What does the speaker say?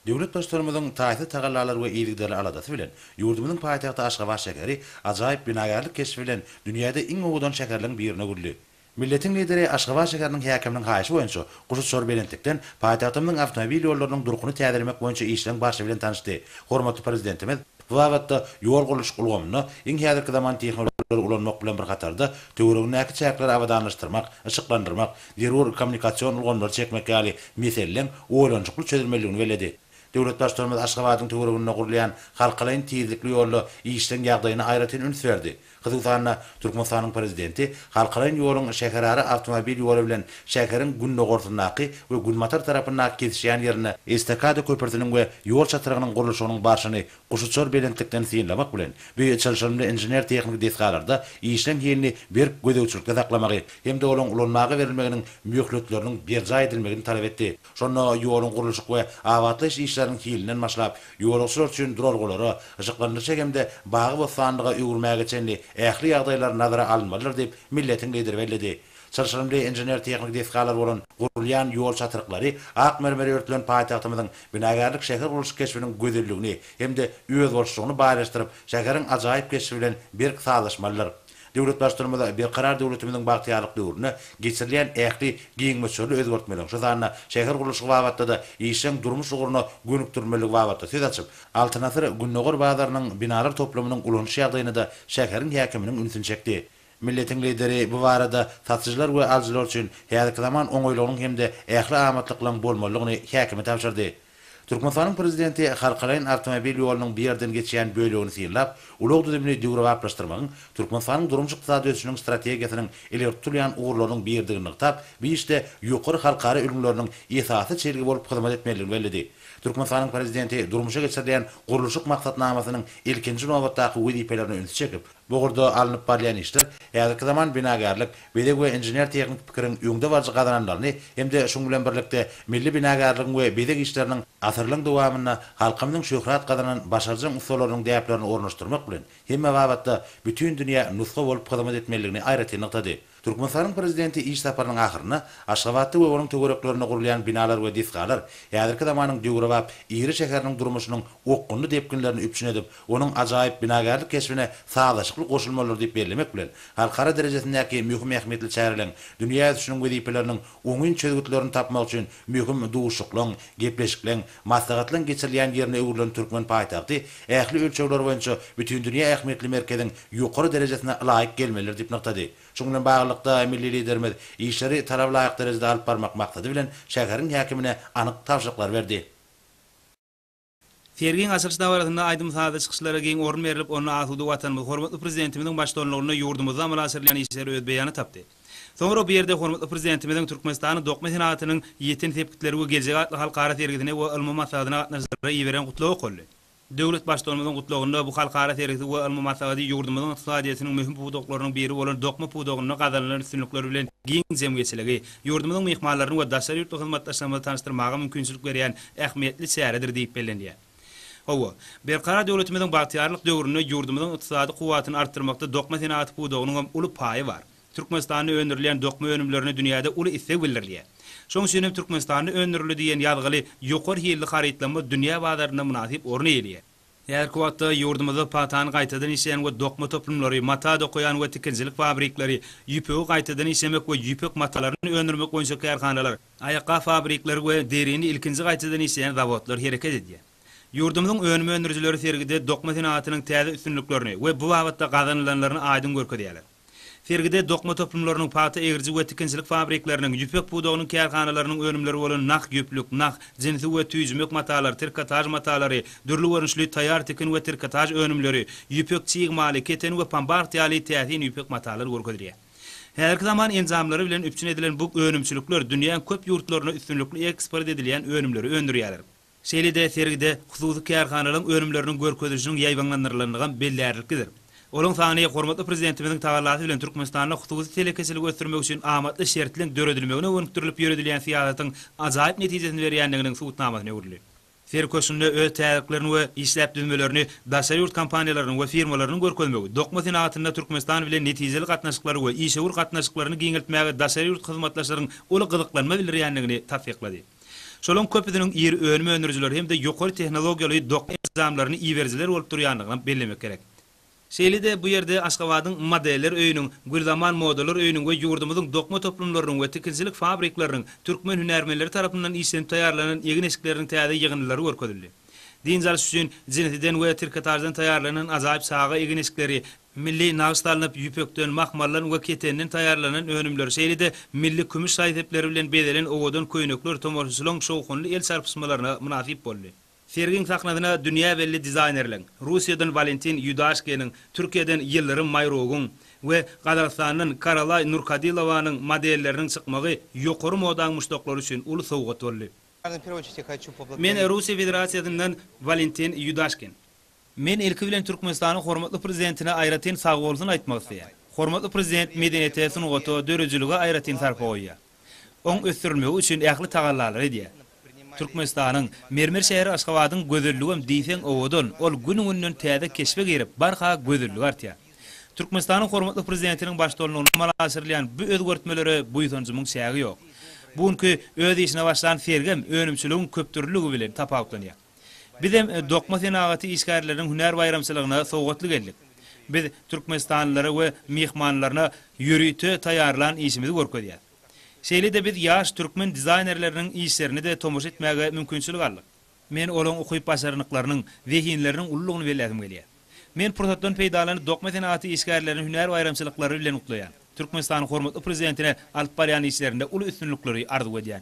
Döwlet Baştutanymyzyň taýsyz tagallalary we yzygiderli aladasy bilen ýurdumyzyň paýtagty Aşgabat şäheri ajaýyp binagärlik keşbi bilen dünýäde iň owadan şäherleriň birine öwrüldi. Milletiň Lideri Aşgabat şäheriniň häkiminiň haýyşy boýunça guşuçar belentlikden paýtagtymyzyň awtomobil ýollarynyň durkuny täzelemek boýunça işleň barşy bilen tanyşdy. Hormatly Prezidentimiz bu babatda ýol gurluşyk ulgamynda iň häzirki zaman tehnologiýalary ulanmak bilen bir hatarda, töweregindäki çäkleri abadanlaşdyrmak, yşyklandyrmak, zerur kommunikasion ulgamlary çekmek ýaly meseleleň oýlanyşykly çözülmelidigini belledi. Döwlet Baştutanymyz Aşgabadyň töwereginde gurulýan halkalaýyn tizlikli ýolda işleň ýagdaýyna aýratyn üns berdi. Gyzyl sanda Türkmenistanyň Prezidenti halkaraýn ýoluň şäherara awtomobil ýoly bilen şäheriň gündogarsyndaky we günbatar tarapyndaky kesişýän ýerinde estakada köprüsiniň we ýol çatrygynyň gurluşygynyň barşyny guşuçar belentlikden synlamak bilen, bu çylşyrymly inžener-tehniki desgalarda işleň hilini berk gözegçilikde saklamagy hem-de olaň ulanmaga berilmeginiň möhletleriniň berjaý edilmegini talap etdi. Şonda ýoluň gurluşyk we abatlaýyş işleriniň hilinden başlap, ýolagçylar üçin duralgalara, yşyklandyryşa hem-de bagy-bossanlyga öwürmäge çenli ähli ýagdaýlar nazara alynmalydyr diýip, milletiň Lideri belledi. Çylşyrymly inžener-tehniki desgalar bolan gurulýan ýol çatryklary ak mermere örtülen paýtagtymyzyň binagärlik-şähergurluşyk keşbiniň gözelligini hem-de özboluşlygyny baýlaşdyryp, şäheriň ajaýyp keşbi bilen berk sazlaşmalydyr. Döwlet Baştutanymyz Berkarar döwletimiziň bagtyýarlyk döwründe geçirilýän ähli giň möçberli özgertmeleriň, şu sanda şähergurluşygy babatda-da işjeň durmuş ugruna gönükdirilmeligi babatda söz açyp, Altyn asyr Gündogar bazarynyň binalar toplumynyň ulanyş ýagdaýyna-da şäheriň häkiminiň ünsüni çekdi. Milletiň Lideri bu barada satyjylar we alyjylar üçin häzirki zaman oňaýlygynyň hem-de ähli amatlyklaryň bolmalydygyny häkime tabşyrdy. Türkmenistanyň Prezidenti halkalaýyn awtomobil ýolunyň bu ýerden geçýän bölegini synlap, ulag düzümini döwrebaplaşdyrmagyň Türkmenistanyň durmuş-ykdysady ösüşiniň strategiýasynyň ileri tutulýan ugurlarynyň biridigini nygtap, bu işde ýokary halkara ülňüleriniň esasy çelgi bolup hyzmat etmelidigini belledi. Türkmenistanyň Prezidenti durmuşa geçirilýän gurluşyk maksatnamasynyň ilkinji nobatdaky wezipelerine ünsi çekip, Bu ugurda alnyp barylýan işler häzirki zaman binagärlik, bezeg we inžener-tehniki pikiriň öňde baryjy gazananlaryny hem-de şuň bilen birlikde milli binagärligiň we bezeg işleriniň asyrlaryň dowamynda halkymyzyň şöhrat gazanan başarjaň ussalarynyň däplerini ornaşdyrmak bilen hemme babatda bütin dünýä nusga bolup hyzmat etmelidigini aýratyn nygtady. Türkmenistanyň Prezidenti iş saparynyň ahyrynda Aşgabatda we onuň töwereklerinde gurulýan binalar we desgalar häzirki zamanyň döwrebap iri şäheriniň durmuşynyň okgunly depginlerini üpjün edip, onuň ajaýyp binagärlik keşbine sazlaşykly goşulmalydyr diýip bellemek bilen, halkara derejesindäki möhüm ähmiýetli çäreleň dünýä ösüşiniň wezipeleriniň oňyn çözgütlerini tapmak üçin möhüm duşuşyklaň, gepleşikleň, maslahatlaň geçirilýän ýerine öwrülen türkmen paýtagty ähli ölçegler boýunça bütindünýä ähmiýetli merkeziň ýokary derejesine laýyk gelmelidir diýip nygtady. Şunuň bilen baglylykda, milli Liderimiz işleri talaba laýyk derejede alyp barmak maksady bilen, şäheriň häkimine anyk tabşyryklary berdi. Sergiň açylyş dabarasynda aýdym-sazly çykyşlara giň orun berlip, onda asuda Watanymyz, hormatly Prezidentimiziň baştutanlygynda ýurdumyzda amala aşyrylýan işler öz beýany tapdy. Soňra bu ýerde hormatly Prezidentimiziň Türkmenistanyň dokma senagatynyň ýeten sepgitleri we geljegi atly halkara sergisine we ylmy maslahatyna gatnaşyjylara iberen Gutlagy okaldy. Döwlet Baştutanymyzyň Gutlagynda bu halkara sergisi we ylmy maslahaty ýurdumyzyň ykdysadyýetiniň möhüm pudaklarynyň biri bolan dokma pudagynda gazanylan üstünlikler bilen giň jemgyýetçiligi, ýurdumyzyň myhmanlaryny we daşary ýurtly hyzmatdaşlarymyzy tanyşdyrmaga mümkinçilik berýän ähmiýetli çäredir diýip bellenilýär. Hawa, Berkarar döwletimiziň bagtyýarlyk döwründe ýurdumyzyň ykdysady kuwwatyny artdyrmakda dokma senagaty pudagynyň hem uly paýy bar. Türkmenistanda öndürilýän dokma önümlerine dünýäde uly isleg bildirilýär. Şonuň üçin hem Türkmenistanda öndürildi diýen ýazgyly ýokary hilli harytlanma dünýä bazarynda mynasyp orun eýeleýär. Häzirki wagtda ýurdumyzda pagtany gaýtadan işleýän we dokma toplumlary, mata dokaýan we tikinçilik fabrikleri, ýüpegi gaýtadan işlemek we ýüpek matalaryny öndürmek boýunça kärhanalar, aýakgap fabrikleri we derini ilkinji gaýtadan işleýän zawodlar hereket edýär. Ýurdumyzyň önüm öndürijileri sergide dokma senagatynyň täze üstünliklerini we bu babatda gazanylanlaryny aýdyň görkezýärler. Sergide dokma toplumlarynyň, pagta egiriji we tikinçilik fabrikleriniň, ýüpek pudagynyň kärhanalarynyň önümleri bolan nah ýüplük, nah, jinsi we tüýi jümek matalar, trikotaž matalary, dürli görnüşli taýýar tikin we trikotaž önümleri, ýüpek çig maly, keten we pambagt ýaly täsin ýüpek matalar görkezilýär. Häzirki zaman enjamlary bilen üpjün edilen bu önümçilikler dünýäň köp ýurtlaryna üstünlikli eksport edilýän önümleri öndürýärler. Şeýle-de sergide hususy kärhanalaryň önümleriniň görkezilişiniň ýaýbaňlandyrylanlygam bellärliklidir. Olaryň sany hormatly Prezidentimiziň tagallasy bilen Türkmenistanda hususy telekeçiligi ösdürmek üçin amatly şertliň döredilmegine gönükdirilip ýöredilýän syýasatyň ajaýyp netijesini berýändiginiň subutnamasyna öwrüldi. Sergi köşgünde öz täzeliklerini we işläp düzmelerini daşary ýurt kompaniýalarynyň we firmalarynyň görkezmegi, dokma senagatynda Türkmenistan bilen netijeli gatnaşyklary we işewür gatnaşyklaryny giňeltmäge daşary ýurt hyzmatdaşlaryň uly gyzyklanma bildirýändigini tassyklady. Şolaryň köpüsiniň iri önüm öndürijiler hem-de ýokary tehnologiýaly doky enjamlaryny iberijiler bolup durýandygyny bellemek gerek. Şeýle-de bu ýerde Aşgabadyň Modeller öýüniň, Gülzaman modalar öýüniň we ýurdumyzyň dokma toplumlarynyň we tikinçilik fabrikleriniň türkmen hünärmenleri tarapyndan işlenip taýýarlanan egin-eşikleriniň täze ýygyndylary görkezildi. Dynç alyş üçin jinsiden we trikotaždan taýýarlanan ajaýyp çaga egin-eşikleri, Milli nagyş salnyp, ýüpekden, mahmaldan we ketenden taýýarlanan önümler, şeýle-de milli kümüş şaý-sepleri bilen bezelen owadan köýnekler tomaşaçylaryň şowhunly el çarpyşmalaryna mynasyp boldy. Sergiň sahnasyna dünýä belli dizaýnerleň, Russiýadan Walentin Ýudaşkiniň, Türkiýeden Ýyldyrym Maýrogyň we Gazagystandan Karalaý Nurkadylowanyň modelleriniň çykmagy ýokary modaň muşdaklary üçin uly sowgat boldy. Men Russiýa Federasiýasyndan Walentin Ýudaşkin. Men ilki bilen Türkmenistanyň hormatly Prezidentine aýratyn sagbolsun aýtmak isleýän. Hormatly Prezident medeniýete, sungata, döredijilige aýratyn sarpa goýýar. Oň ösdürilmegi üçin ähli tagallalary edýär. Türkmenistanyň mermer şäheri Aşgabadyň gözelligem diýseň owadan, ol gün-günden täze keşbe girip, barha gözelligi artýar. Türkmenistanyň hormatly Prezidentiniň baştutanlygynda amala aşyrylýan bu özgertmelere buýsanjymyň çägi ýok. Bu günki öz işine başlan sergem önümçiligiň köpdürlüligi bilen tapawutlanýar. Bizem dokma senagaty işgärleriniň hünär baýramçylygyna sowgatly geldik. Biz türkmenistanlylara we myhmanlaryna ýörite taýýarlan işimizi görkezýäs. Şeýle-de biz ýaş türkmen dizaýnerleriniň işlerine-de tomaşa etmäge mümkinçilik aldyk. Men olaryň ukyp-başarnyklarynyň, zehinleriniň ululygyny belläsim gelýär. Men pursatdan peýdalanyp dokma senagaty işgärlerini hünär baýramçylyklary bilen gutlaýan. Türkmenistanyň hormatly Prezidentine alyp barýan işlerinde uly üstünlikleri arzuw edýän.